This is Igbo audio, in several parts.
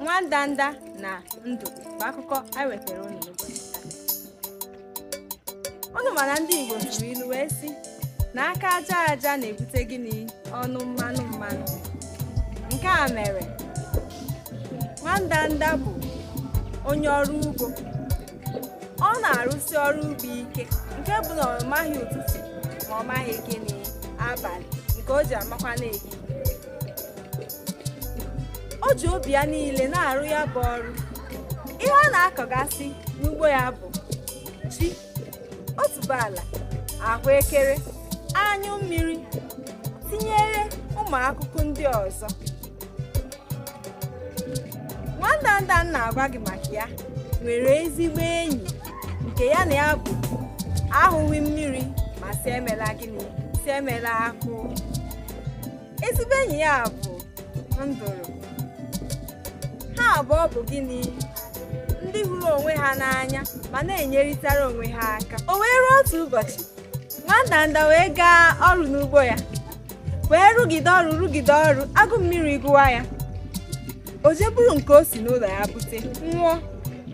nwa ndanda na nduru bụ akụkọ anyị wetara unu n'ụbọchị taa. unu ma na ndị igbo tụrụ ilu wee sị na aka aja aja na-ebute gịnị ọnụ mmanụ mmanụ nke a mere nwa ndanda bụ onye ọrụ ugbo ọ na-arụsi ọrụ ugbo ike nke bụ na ọ maghị ụtụtụ ma ọ maghị gịnị abalị nke o ji amakwa na-ehi o ji obi ya niile na-arụ ya bụ ọrụ ihe ọ na-akọgasị n'ugbo ya bụ ji otuboala ahụekere anyụ mmiri tinyere ụmụ akụkụ ndị ọzọ nwandanda m na-agwa gị maka ya nwere ezigbo enyi nke ya na ya bụ ahụghị mmiri ma si emela gịnị si emela akụ ezigbo enyi ya bụ nduru ha abụọ bụ gịnị ndị hụrụ onwe ha n'anya ma na-enyerịtara onwe ha aka o wee ruo otu ụbọchị nwandanda wee gaa ọrụ n'ugbo ya wee rụgide ọrụ rụgide ọrụ agụ mmiri gụwa ya o jee buru nke o si n'ụlọ ya bute nwụọ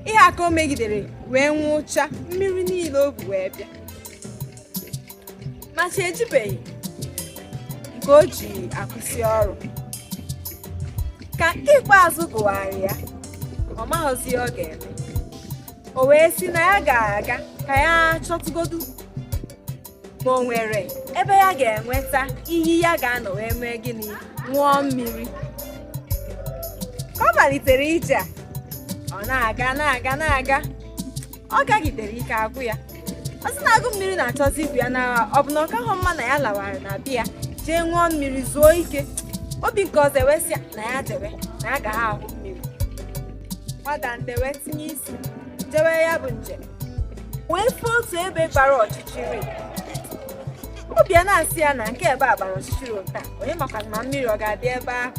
ihe a ka o megidere wee nwụcha mmiri niile o bu wee bịa ma chi ejibeghị nke o ji akwụsị ọrụ ka nke ikpeazụ gụwara ya ọ maghịzi ihe ọ ga-eme o wee sị na ya ga-aga ka ya chọtụgodu ma o nwere ebe ya ga-enweta iyi ya ga-anọ wee mee gịnị ṅụọ mmiri ka ọ malitere ije a ọ na-aga na-aga na-aga ọ gagidere ike agwụ ya ọ sị na agụ mmiri na-achọzi igbu ya na ọ bụ na ọ kaghọ mma na ya lawara na be ya jee ṅụọ mmiri zuo ike obi nke ọzọ wee sị ya na ya jewe na ya ga-ahụ mmiri nwandanda wee tinye isi jewe ya bụ njem wee fụ otu ebe gbara ọchịchịrị obi ya na-asị ya na nke ebe a gbara ọchịchịrị otu a onye makwa ma mmiri ọ ga-adị ebe ahụ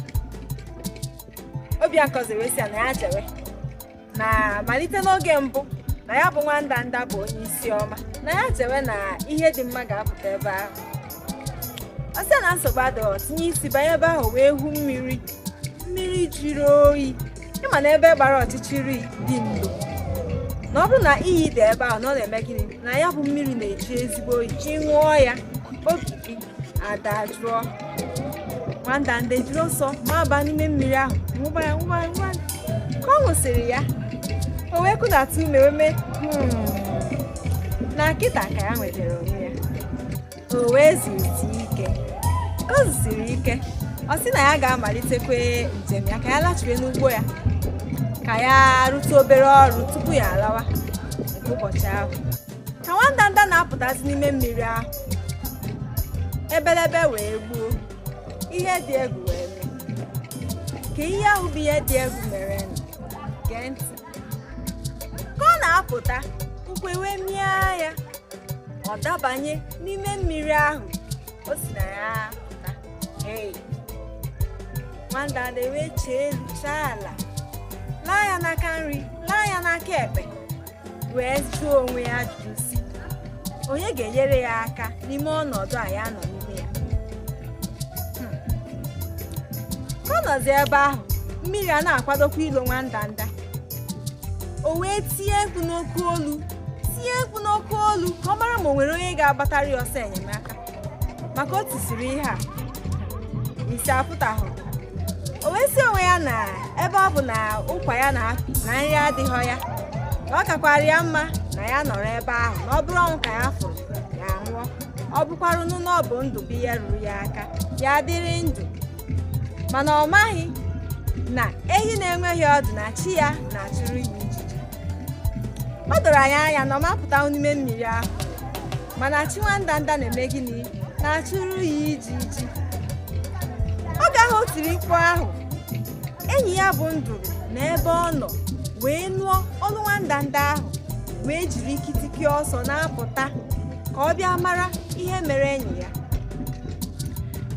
obi ya nke ọzọ wee sị ya na ya jewe na malite n'oge mbụ na ya bụ nwa ndanda bụ onye isi ọma na ya jewe na ihe dị mma ga-apụta ebe ahụ ọ sị na nsogbu adịghị tinye isi banye ebe ahụ wee hụ mmiri mmiri jiri oyi ị ma na ebe gbara ọchịchịrị dị ndo na ọ bụrụ na iyi dị ebe ahụ na ọ na-eme gịnị na ya bụ mmiri na-eji ezigbo oyi ị ṅụọ ya obi gị adajụọ nwandanda ejiri ọsọ maba n'ime mmiri ahụ ṅụba ya ṅụba ya ṅụba ya ka ọ ṅụsịrị ya o wee kụdata ume wee mee "Hmm." na kịta ka ya nwetara onwe ya o wee zuzie ike ka o zuziri ike ọ sị na ya ga-amalitekwa njem ya ka ya lachiwe n'ugbo ya ka ya rụtụ obere ọrụ tupu ya alawa nke ụbọchị ahụ ka nwandanda na-apụtazi n'ime mmiri ahụ ebelebe wee gbuo ihe dị egwu wee mee kee ihe ahụ bụ ihe dị egwu merenụ gee ntị ka ọ na-apụta ụkwụ ewee mịa ya ọ dabanye n'ime mmiri ahụ o si na ya pụta Hey! nwandanda ewee chee elu chaa ala laa ya n'aka nri laa ya n'aka ekpe wee jụọ onwe ya ajụjụ sị onye ga-enyere ya aka n'ime ọnọdụ a ya nọ n'ime ya Hmm. ka ọ nọzi ebe ahụ mmiri a na-akwadokwa ilo nwandanda o wee tie mkpu n'oke olu tie mkpu n'oke olu ka ọ mara ma o nwere onye ga-agbatara ya ọsọ enyemaka maka o tisiri ihe a isi apụtahụ o wee sị onwe ya na ebe ọ bụ na ụkwa ya na apị na nri adịghị ya na ọ kakwara ya mma na ya nọrọ ebe ahụ na ọ bụrụ ọnwụ ka ya fụrụ ya nwụọ ọ bụkwaranụ na ọ bụ ndụ bụ ihe ruru ya aka ya dịrị ndụ mana ọ maghị na ehi na-enweghị ọdụ na chi ya na-achụrụ ya ijiji o doro anyị anya na ọ ma apụta n'ime mmiri ahụ mana chi nwandanda na-eme gịnị na-achụrụ ya ijiji oge ahụ o tiri mkpu ahụ enyi ya bụ nduru n'ebe ọ nọ wee nụọ olu nwandanda ahụ wee jiri ikitiki ọsọ na-apụta ka ọ bịa mara ihe mere enyi ya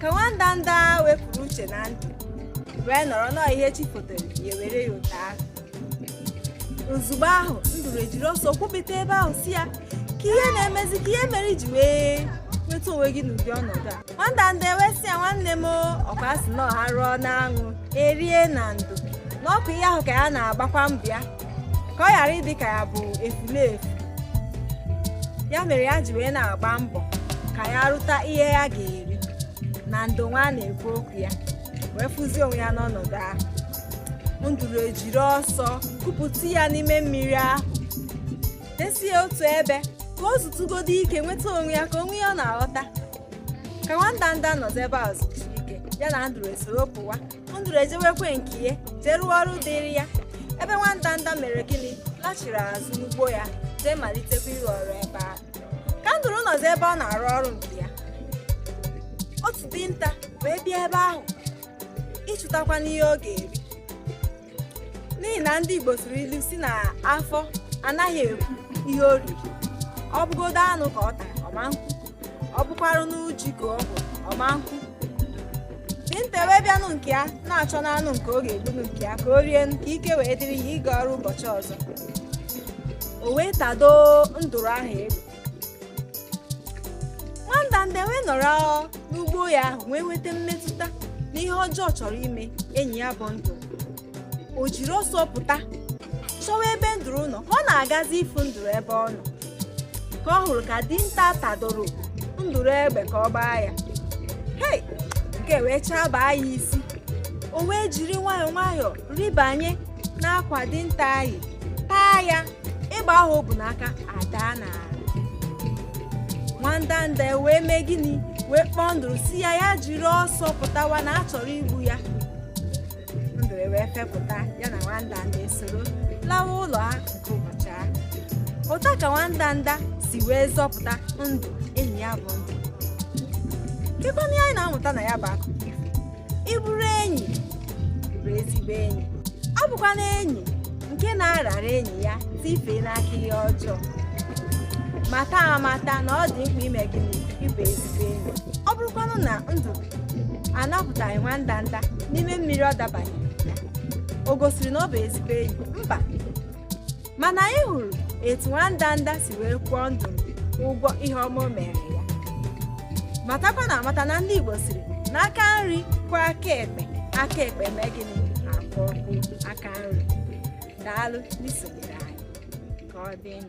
ka nwandanda wepụrụ uche na ndụ wee nọrọ nọọ ihe chi fotere ya were ya ụta ahụ ozugbo ahụ nduru ejiri ọsọ kwụpụta ebe ahụ sị ya kee ihe na-emezi kee ihe mere i ji wee nweta onwe gị n'ụdị ọnọdụ a nwandanda ewee sị ya nwanne m ọkwa sị na a rụọ n'anwụ e rie na ndo na ọkwa ihe ahụ ka ya na-agbakwa mbọ ya ka ọ ghara ịdị ka ya bụ efulefu ya mere ya ji wee na-agba mbọ ka ya rụta ihe ya ga-eri na ndo nwa na-ekwu okwu ya wee fụzie onwe ya n'ọnọdụ ahụ nduru ejiri ọsọ kupụta ya n'ime mmiri ahụ desi ya otu ebe ka o zutụgodo ike nweta onwe ya ka onwe ya ọ na-aghọta ka nwandanda nọzi ebe a zuchaa ike ya na nduru esoro pụwa nduru ejewekwa nke ya jee rụọ ọrụ dịrị ya ebe nwandanda mere gịnị lachiri azụ n'ugbo ya jee malitekwa ịrụ ọrụ ebe ahụ ka nduru nọzi ebe ọ na-arụ ọrụ nke ya otu dinta wee bịa ebe ahụ ịchụtakwanụ ihe ọ ga-eri n'ihi na ndị Igbo siri ilu sị na afọ anaghị ekwu ihe o riri ọ bụgodu anụ ka ọ tara ọ ma-ekwu ọ bụkwarụnụ ji ka ọ bụ ọ ma-ekwu dinta wee bịanụ nke ya na-achọnụ anụ nke ọ ga-egbunụ nke ya ka o rie ka ike wee dịrị ya ịga ọrụ ụbọchị ọzọ o wee tado nduru ahụ egbe nwandanda wee nọrọ n'ugbo ya ahụ wee nweta mmetụta na ihe ọjọọ chọrọ ime enyi ya bụ nduru o jiri ọsọ pụta chọwa ebe nduru nọ ọ na-agazi ịfụ nduru ebe ọ nọ ka ọ hụrụ ka dinta tadoro nduru egbe ka ọ gbaa ya hei nke wee chabaa ya isi o wee jiri nwayọọ nwayọọ rịbanye n'akwa dinta ahụ taa ya egbe ahụ o bu n'aka adaa n'ala nwandanda ewee mee gịnị wee kpọọ nduru sị ya ya jiri ọsọ pụtawa na a chọrọ igbu ya nduru ewee fepụta ya na nwandanda esoro lawa ụlọ ha nke ụbọchị ahụ otu a ka nwandanda si wee zọpụta ndụ enyi ya bụ nduru kekwanụ ihe anyị na-amụta na ya bụ akụkọ ịbụrụ enyi bụ ezigbo enyi ọ bụkwanụ enyi nke na-arara enyi ya tifee n'aka ihe ọjọọ mata amata na ọ dị mkpa ime gịnị ịbụ ezigbo enyi ọ bụrụkwanụ na nduru anapụtaghị nwandanda n'ime mmiri ọ dabanye o gosiri na ọ bụ ezigbo enyi mba mana anyị hụrụ etu nwandanda si wee kwụọ nduru ụgwọ ihe ọma o mere ya matakwanụ amata na ndị igbo sịrị na aka nri kwọọ aka ekpe aka ekpe mee gịnị akwọọkwa aka nri daalụ n'isonyere anyị ka ọ dịnụ